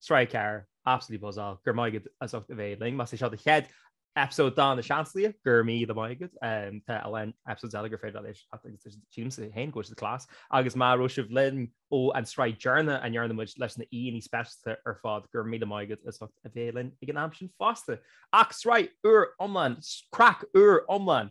Sraith a ceathair, absolutely buzzáil, go raibh maith agat as ucht a bheith linn. Más é seo do chéad episode de Na Seansálaithe, go raibh míle maith agat. Tá a lán episodes eile gur féidir leat éisteacht agus sílimse féin go class. Agus má raibh sibh linn ó an sraith deireanach a ndearna muid leis na haíonna speisialta ar fad, go raibh míle maith agat as ucht a bheith linn ag an am sin fosta. Ach sraith úr iomlán, craic úr iomlán!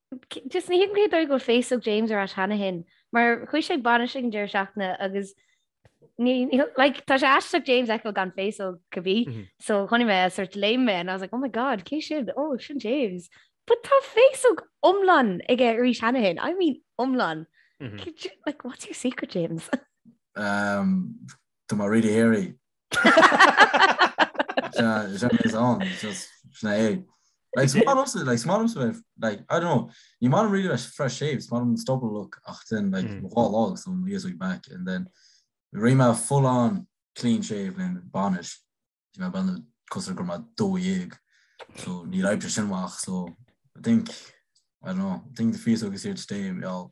Just ní thuigim cé dóigh go bhfuil féasóg James ar ais cheana féin, mar chuaigh sé ag bainis ag an deireadh seachtaine agus like, tá sé aisteach James a fheiceáil gan féasóg ar bith, mm -hmm. so chonaic mé é, sort of léim mé and I was like, oh my god, cé sin? Oh, sin James. But tá féasóg iomlán aige arís cheana féin, I mean iomlán. Mm -hmm. you, like, what's your secret, James? um, do má réidir éirí, is on just na é. Like smart also like smart also if like I don't know you might really like fresh shave smart and stop and look after and like mm. all logs on years week back and then Rima full on clean shave and banish you know ben the customer grandma do yig so need I just walk so I think I don't know I think the fees are here today y'all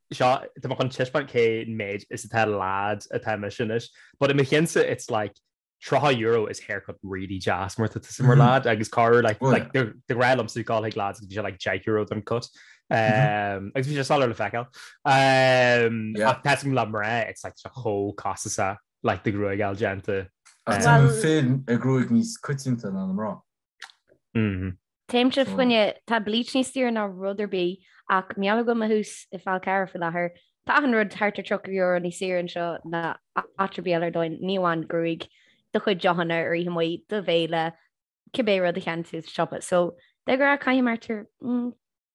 Seo, tá mé chun taispeáint cé méid is atá lad atá mise anois. But i mo cheannsa it's like €30 is haircut really deas má tá tusa mar lad agus cá raibh like like do do ghrá liom súil cáil ag lad agus bhí sé like €10 don cut. Um, agus bhí sé soiléir le feiceáil. Um, yeah. Ach tuigim le mná it's like tá sé chomh costasach like do ghruaig a fháil déanta. Ach tá an féin ag gruaig níos coitianta ná na mná. Mhm. Téimse fionn, tá bleach níos daoire ná rud ar bith, ach mar gheall go bhfuil mé thuas i bhFál Carrach faoi láthair, tá achan rud thart ar €30 níos saoire anseo ná áit ar bith eile ar domhain, ní amháin gruaig do chuid deochanna ar oíche amuigh, do bhéile, cibé rud a cheannaíonn tú sa siopa. So, de ghnáth caithim thart ar, mm.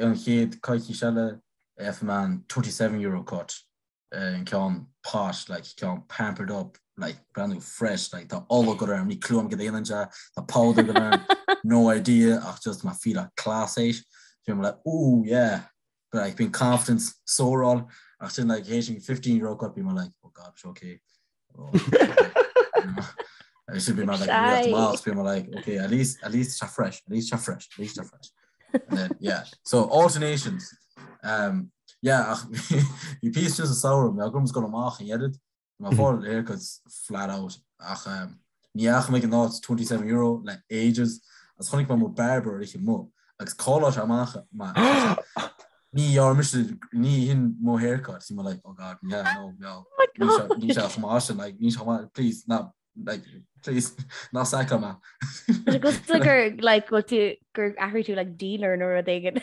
an chéad coicís eile eh, for man 27 euro cut eh, an cean posh le cean pampered up like brand new fresh like tá all go am ní clúm go éan se tá powder go no idea ach just ma fi a class éis fim le ó yeah but like been confidence sórá ach sin like héisiing 15 euro cut bí mar like oh god okay agus sin bí mar más bí mar okay at least at least se fresh at least se fresh at least se fresh then, yeah so alternations um yeah ach hí pí just a saoir me gom go amach an edit má fá air go flat out ach um Ní fhaca mé an áit €27 le ages agus chonaic mé mo barber ar oíche amuigh agus calláil amach mar ní dhearna mise duit ní hin mo haircut bhí mé like oh god yeah no no níl sé chomh maith sin like níl sé chomh maith please ná like please ná sack me. Agus gur like gur athraigh tú like dealer nó rud éigin.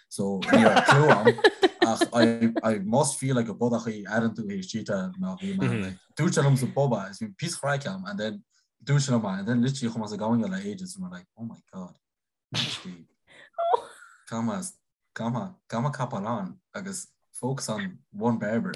so ní raibh clú ann ach I must feel like a bodach airíonn tú like cheater ná bhí mar mm-hmm. dúirt sé liomsa barbers bhí píosa craic againn and then dúirt sé mar and then literally chuaigh muid ag gáire le ages and we're like oh my god caithfidh mise copáil on agus focus on one barber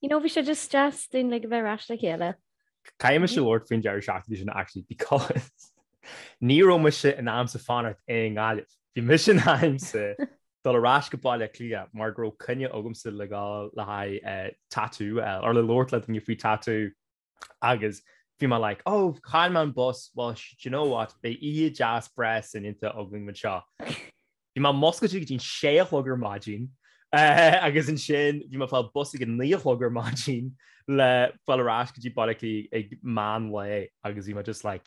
You know, bhí sé just deas dúinn uilig a bheith ar ais le chéile. Caithfidh mise labhairt faoin deireadh seachtaine sin actually because ní raibh mise in ainm is fanacht i nGaillimh. Bhí mise in ainm is dul ar ais go Baile Átha Cliath mar go raibh coinne agamsa le gabháil le haghaidh tattoo, or le labhairt le daoine faoi tattoo. Agus bhí mé like, oh, chaill mé an bus, well, do you know what, beidh oíche deas breá soineanta againn anseo. Bhí mé muscailte go dtí an sé a chlog ar maidin, agus ansin bhí mé ag fáil bus ag an naoi a chlog ar maidin le fáil ar ais go dtí Baile Átha Cliath ag meán lae, agus bhí mé just like,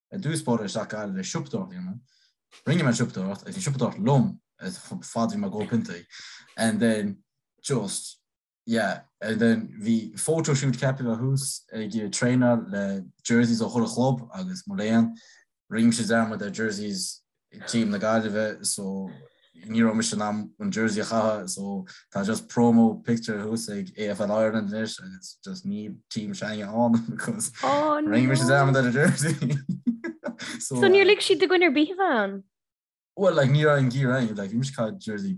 I dtús báire isteach go Gaillimh le siopadóireacht a dhéanamh. Rinne mé an siopadóireacht, agus bhí an siopadóireacht liom chomh fada is bhí mé ag ól piontaí. And then just yeah and then bhí photo shoot ceaptha a bheith thuas ag traenáil le jerseys ó chuile chlub agus mo léan. Rinne mise dearmad ar jerseys team na Gaillimhe so ní raibh mise in am an jersey a chaitheamh so tá just promo picture thuas ag AFL Ireland anois agus just ní táim sa ngrúpa ann because oh, ring no. mise gan an jersey so, so níor uh, lig siad duit a bheith ann? Well like ní raibh an gear like bhí mise chaith jersey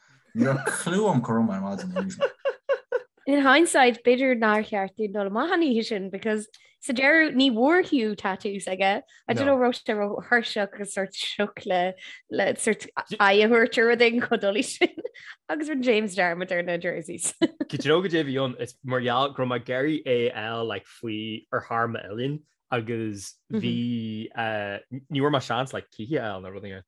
Níor chlú am go raibh mé ar maidin arís mar. In hindsight, b'fhéidir nár cheart dúinn dul amach an oíche sin because sa deireadh ní bhfuair Hugh tattoo sa deireadh. I don't know raibh sé ró-thuirseach agus sort sioc le le sort aghaidh a thabhairt ar rud éigin chomh dúshlánach sin agus bhí James Dermot ar na jerseys. Go deo go dé bhí ann is mar gheall go raibh mé ag iarraidh AFL like faoi arm m'uillinn agus bhí ní bhfuair mé seans like cluiche AFL nó rud éigin.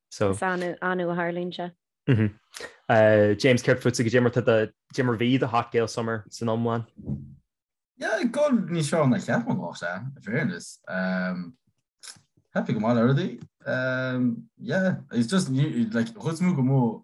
Is annamh a tharlaíonn sé. James, céard fútsa cad é mar, cad é mar a bhí do Hot Girl Summer san iomlán? Yeah, go, níos fearr ná a cheap mé go mbeadh sé, in fairness. Happy go maith le rudaí. Yeah, it's just, like, chuid is mó go mór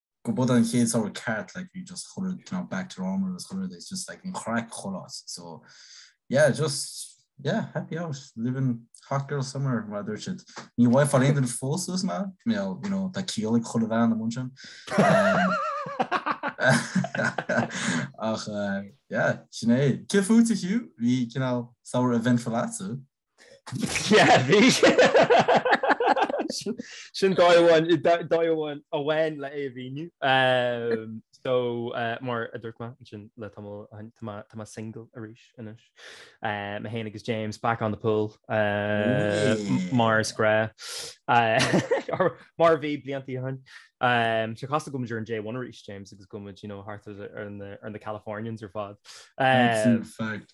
Go mba é an chéad samhradh ceart like bhí just chuile rud you know back to normal agus chuile rud it's just like an chraic a chailleas so yeah just yeah happy out living hot girl summer mar a dúirt siad. Ní bhfuair aon duine fós thú, ná mé well you know tá ciall ag chuile bhean amuigh ansin ach eh yeah sin é. Céard fútsa Hugh? Bhí cineál samhradh eventful agatsa. Yeah, bhí. Sin dóigh amháin, dóigh amháin amháin le é a mhíniú. So mar a dúirt mé ansin le tamall ó shin, tá mé, tá mé single arís anois. Mé fhéin agus James back on the pull mar is gnáth. Mar a bhí blianta ó shin. Tá sé cosúil go bhfuil muid ar an J1 arís, James, agus go bhfuil muid, you know, thart ar na Californians ar fad. That's a fact.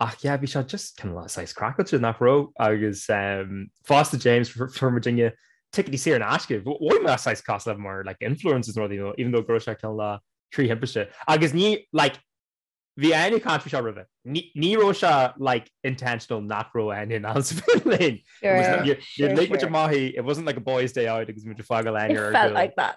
Ach yeah, bhí sé just kind of saghas craiceáilte, nach raibh? Agus fosta James from Virginia, ticéidí saor in aisce, mhothaigh muid saghas cosúil le mar like influencers nó rudaí, even though go raibh sé go hiomlán trí thimpiste. Agus ní like bhí Eithne ag caint faoi seo roimhe. Ní ní raibh sé like intentional nach raibh Eithne in ann a bheith linn. It was like you're you're like muid amuigh, it wasn't like a boys day out agus muid ag fágáil Eithne ar a gcúl. It felt like that.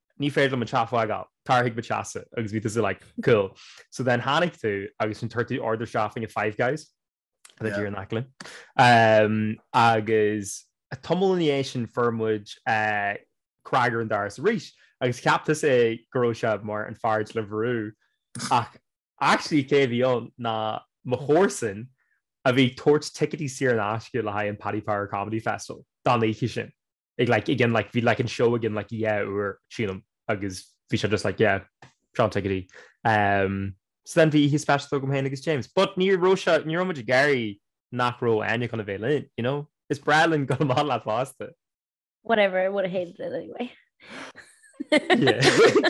ní féidir liom an teach a fhágáil, tar chuig mo theachsa agus bhí tusa like cool so then tháinig tú agus ansin d'ordaigh tú order isteach chuig Five Guys atá díreach in aice linn ehm agus tamall ina dhiaidh sin fuair muid eh cnag ar an doras arís agus cheap tusa go raibh sé mar an fear Deliveroo ach actually cé a bhí ann ná mo chomharsan a bhí ag tabhairt ticéidí saor in aisce le haghaidh an Paddy Power Comedy Festival don oíche sin. Like, like, again, like, bhí like anseo again, like, yeah, uair, sílim, agus bhí sé just like, yeah, seo na ticéidí. Um, so then bhí oíche speisialta agam féin agus James. But ní raibh sé, ní raibh muid ag iarraidh nach raibh Áine chun a bheith linn, you know? Is breá linn gabháil amach leat fosta. Whatever, I would have hated it anyway. Yeah.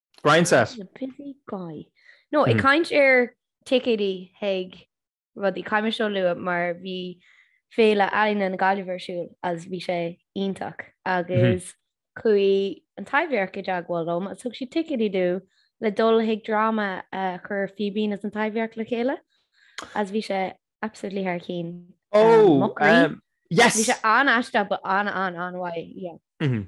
Brian set. Na busy guy. No, ag caint ar ticéidí chuig rudaí caithfidh mé seo a lua mar bhí Féile Ealaíne na Gaillimhe ar siúl is bhí sé iontach agus chuaigh an Taibhdhearc i dteagmháil liom is thug siad ticéidí domh le dul chuig dráma a chuir Fíbín is an Taibhdhearc le chéile is bhí sé absolutely thar cionn. Ó, um, yes! Bhí sé an-aisteach but an an an-mhaith, yeah. Mm -hmm.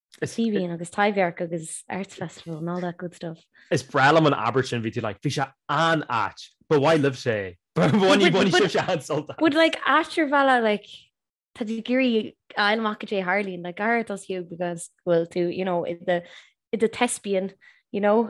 Is Fíbín agus Taibhdhearc agus Arts Festival and all that good stuff. Is breá liom an abairt sin, bhí tú like, bhí sé an-ait, but bhain libhse, bhain sibhse an-sult as. But like ait ar bhealach like tá tú ag iarraidh a fháil amach cad é a tharlaíonn, like go háirid duitse because bhfuil tú, you know, i do thespian, you know?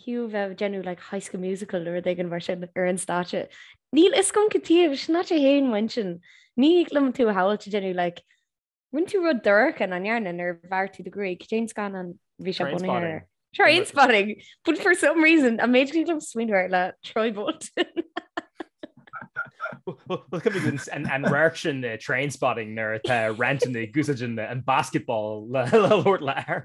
Fiú a bheith ag déanamh like High School Musical nó rud éigin mar sin ar an stáitse. Níl a fhios agam cad taobh is ná sé fhéin bhain sin. Ní thig liom tú a shamhailt ag déanamh like Rinne tú rud dorcha nach ndearna nuair a bhearr tú do gruaig. Cad é an scannán a bhí sé bunaithe ar? Trainspotting. But for some reason a méid go níl liom smaoineamh air le Troy Bolton. Well cad an an radharc sin i Trainspotting nuair atá Renton ag úsáid an basketball le le labhairt le air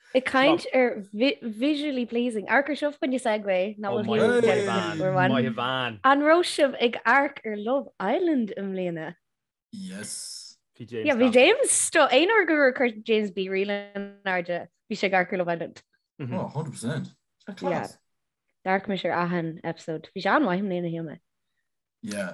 Ag caint ar visually pleasing. Amharc air seo fá choinne segue ná bhfuil bhán. An raibh sibh ag amharc ar Love Island i mbliana? Yes. Bhí James. Yeah, bhí James sto. Aon uair gur chuir James BeReal in airde, bhí sé ag amharc ar Love Island. Mm -hmm. Oh, 100%. Tá class. Yeah. D'amharc mise ar achan episode. Bhí sé an-mhaith i mbliana, shíl mé. Yeah.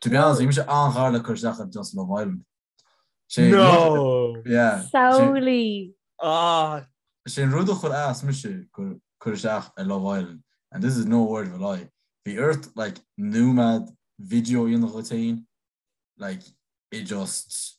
To be honest, bhí mise an-ghar le cur isteach ar Just Love Island. Sé No! yeah. Seriously! Ah! Sé an rud a chuir as mise ag cur isteach ar Love Island, and this is no word of a lie, bhí ort like nóiméad video a dhéanamh díot féin, like it just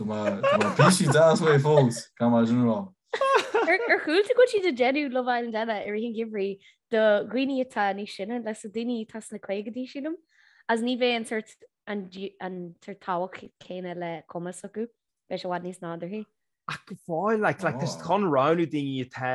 Bhí sí deas mé fós gan mar sin rá. Ar chuala tú go bhfuil siad ag déanamh Love Island eile i rith an gheimhridh do dhaoine atá níos sine leis na daoine atá sna caogaidí sílim is ní bheidh an sórt an sórt tábhacht céanna le cumas acu beidh sé i bhfad níos nádúrthaí. Ach go fóill, like, like, tá siad chun roghnú daoine atá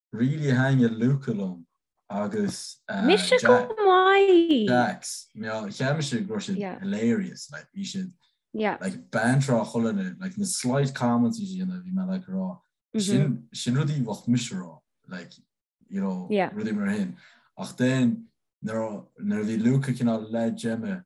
Really thaitin Luca liom agus Mise chomh maith! Jacques, mar cheap mise go raibh siad hilarious, like bhí siad like banter á chur lena, like na slight comments a bhí siad a dhéanamh bhí mé like ag rá sin sin rudaí a bheadh mise a rá like you know rudaí mar sin ach then nuair a bhí Luca cineál le Gemma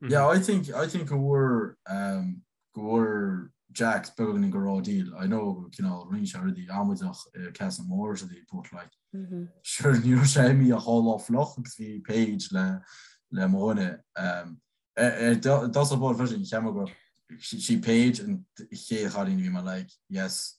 Yeah, I think I think go bhfuair um, go bhfuair Jacks began in Garodil. I know you know ring already Amazach uh, Cas Moore the put like mm -hmm. sure you sé me a whole off loch the page le le mone um eh, eh, that's about version Chamago she, she page and he had in me like yes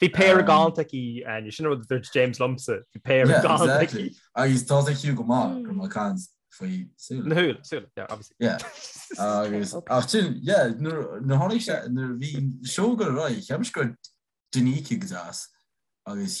Bhí péire galánta aici Áine, sin rud a dúirt James liomsa, bhí péire galánta aici. Agus tá sé fiú go maith go mbeadh caint faoi súile. Na súile, súile, yeah, obviously. Agus, ach sin, yeah, nuair tháinig sé, nuair bhí sé ag dul ar aghaidh, cheap mise go ndeachaigh deas, agus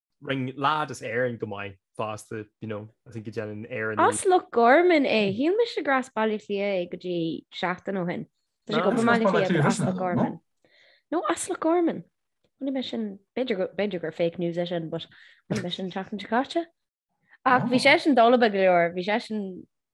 Rinne lad as Éirinn go maith fosta you know I think go ndéanann Éire nó As Loch Gorman é. Shíl mise gur as Baile Átha Cliath é go dtí seachtain ó shin. Tá sé ag obair i mBaile Átha Cliath as Loch Gorman. No as Loch Gorman. Chonaic mé sin b'fhéidir gur fake news é sin but chonaic mé sin an tseachtain seo caite. Ach bhí seisean dolba go leor, bhí seisean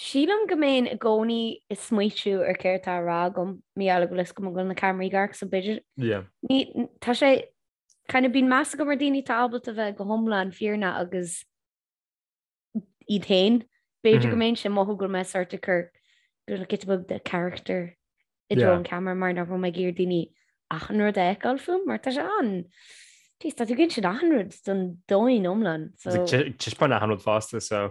Sílim go mbeinn i gcónaí ag smaoitiú ar céard atá á rá agam, mar gheall go bhfuil a fhios agam go bhfuil na ceamaraí ag amharc so b'fhéidir. Yeah, tá sé, kind of, bíonn meas agam ar dhaoine atá ábalta bheith go hiomlán fírinneach agus iad féin. B'fhéidir go mbeinnse ag mothú go bhfuil mé sort of ag cur, cineál giota beag de charachtar i dtreo an cheamara mar nach raibh mé ag iarraidh daoine achan rud a fheiceáil fúm mar tá sé an, jeez, tá tú ag insint achan rud don domhan iomlán, so. Ag taispeáint achan rud fosta, so.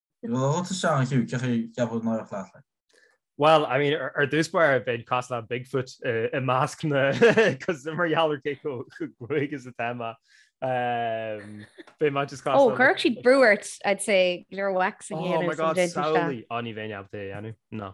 Bhfuil rud isteach an chiú ciochaí ceapadh náireach leat le. Bhuel, I mean, ar dtús báire bheinn cosúil le Bigfoot i measc na cos mar gheall ar cé chomh clúmhach is atá mé. Bheadh mé just cosúil. Ó, chuirfeadh siad brú ort, I'd say, gur wax a dhéanamh. Oh my god, samhlaigh. Ó, ní bheinn ábalta é a dhéanamh, ná.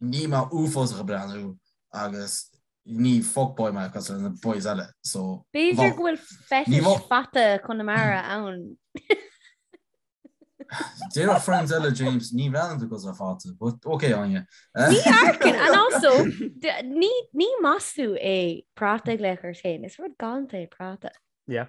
Níl mé uafásach ag breathnú agus ní fuckboy mé cosúil le na boys eile, so. B'fhéidir go bhfuil fetish fata Chonamara ann. Déarfadh friends eile James ní bhreathnaíonn tú cosúil le fata, but ok Áine. Ní amharcann, and also ní maslú é práta a ghlaoch ort féin, is rud galánta é práta. Yeah.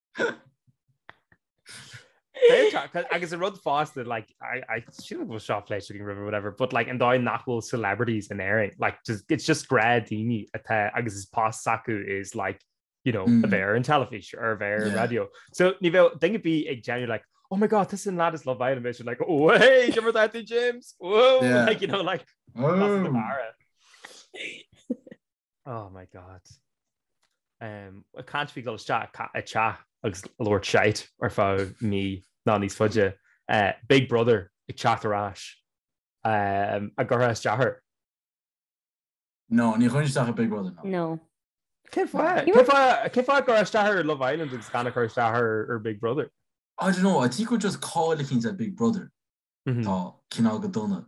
agus a rud fásta like I, I should have shot flesh shooting river whatever but like and die nachful celebrities in airing like just it's just grad dini at agus his past saku is like you know mm. a bear in television or a bear yeah. radio so ni think it'd be a genuine like oh my god this and that is love island mission like oh hey remember that thing James whoa yeah. like you know like oh. Oh my God. Um, ag caint faoi dul isteach i dteach agus labhairt shite ar feadh mí ná níos faide. Uh, Big Brother ag teacht ar ais um, an gcuirfeá isteach air. No, ní chuirfinn isteach ar Big Brother, no. No. Cén fáth You cé were- fá- cén fáth cur isteach ar Love Island agus gan a chur isteach ar ar Big Brother? I don't know, I think we're just cáilíchinns ar Big Brother. Mhm. Tá cineál go dona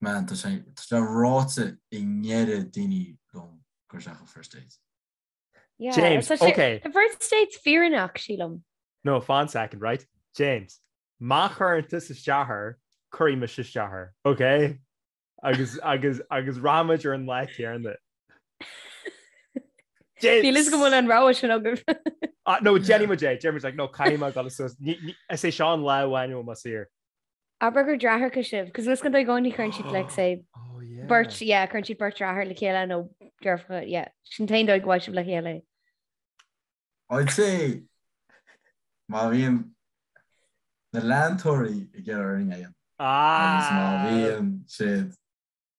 Man, tá sé tá sé ráite ag an oiread daoine liom cur isteach ar First Dates. Yeah, James, tá sé- ok. The first date's fírinneach, sílim. No, fan second, right? James, má chuireann tusa isteach air, cuirfidh mise isteach air, ok? Agus agus agus rachaidh muid ar an lá céarna. James! Bílis go bhfuil an rogha sin agaibh. Ah, no, déanfaidh muid é. Déanfaidh muid, like, no, caithfidh mé dul suas. Ní- ní- Is é seo an lá amháin a bhfuil mé saor. Abair gur deartháireacha sibh, cos lis gan dóigh i gcónaí cuireann siad like say beirt yeah chuireann siad beirt deartháir le chéile nó deirfiúracha yeah sin an t-aon dóigh go bhfaighidh sibh le chéile. I'd say má bhíonn na leantóirí ag iarraidh ar an ngeim agus má bhíonn siad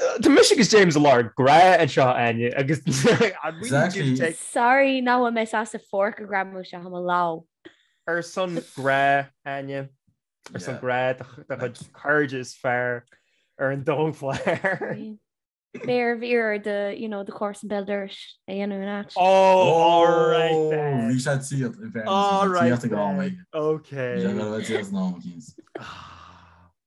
Tá mise agus James ag lorg grá anseo Áine agus Sorry nach bhfuil mé sásta forc a ghreamú isteach i mo lámh. Ar son grá Áine Ar son grá do chuid cairde is fearr ar an domhan. Fair. Béar bhíar de you know de course an Beldoiris a dhéanamh in áit. Bhí sé siad i bhfear Ok.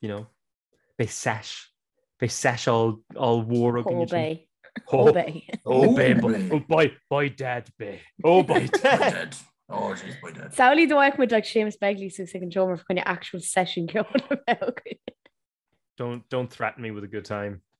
you know, beidh seis, beidh seis oll, ollmhór againn ansin. Oh, bé. Oh, bé, oh, boy, by dad, bé. Oh, by dad. Oh, jeez, by dad. Saolaí dóach muid like Séamus Begley sa second show mar kind of actual session ceol a bheith. Don't, don't threaten me with a good time.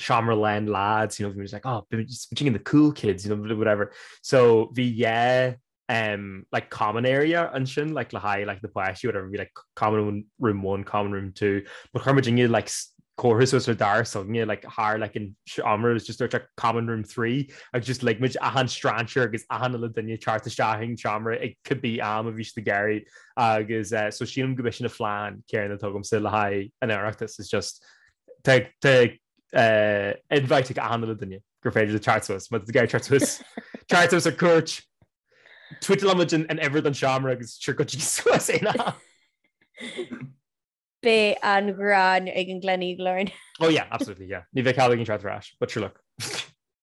shamra len lads you know we was like oh between the cool kids you know whatever so the yeah um like common area and shin like la high like the place you whatever be like common room one common room two but her Virginia like chorus was her dar song yeah like har like in armor was just like a common room three I just like much ahan stranger agus ahan dunya chart shahing chamra it could be am of each the Gary agus uh, so she go mission a flan carrying the togum still high and Eractus is just inviting achan uile dhuine gur féidir leo teacht suas, má tá tú ag iarraidh teacht suas, teacht suas ar cuairt, tuíteálfaimid an uimhir den seomra agus sure go dtí suas aon am. Beidh an ghráin ag an Gleneagle orainn. Oh yeah, absolutely yeah. Ní bheidh cead againn teacht ar ais, but sure look.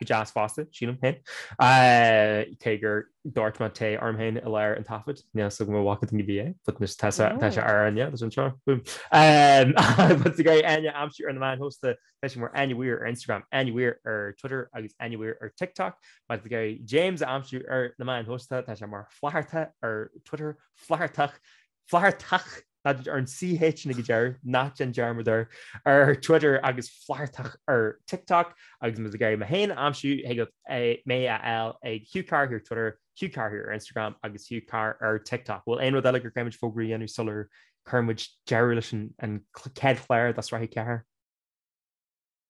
go deas fosta, sílim, féin. Cé gur dúirt mé té orm féin i lár an taifid, níl so go mba mhac duine bhí é, but anois tá sé ar an aer leis anseo, boom. But is great Enya, I'm sure you're the man hosta, tá sé mar Enya Weir ar Instagram, Enya Weir ar Twitter agus Enya Weir ar TikTok. But is great James, I'm sure you're the man hosta, tá sé mar Flatharta ar Twitter, Flathartach, Flathartach, that ar an CH ag an deireadh, ná déan dearmad air, ar Twitter agus Flathartach ar TikTok agus má tá tú ag iarraidh mé féin a aimsiú thig leat mé a fháil ag Hugh Carr Here ar Twitter, Hugh Carr Here ar Instagram agus Hugh Carr ar TikTok. Bhfuil aon rud eile gur caithfimid fógra a dhéanamh sular cuirimid deireadh leis an chéad chlár de Shraith 4?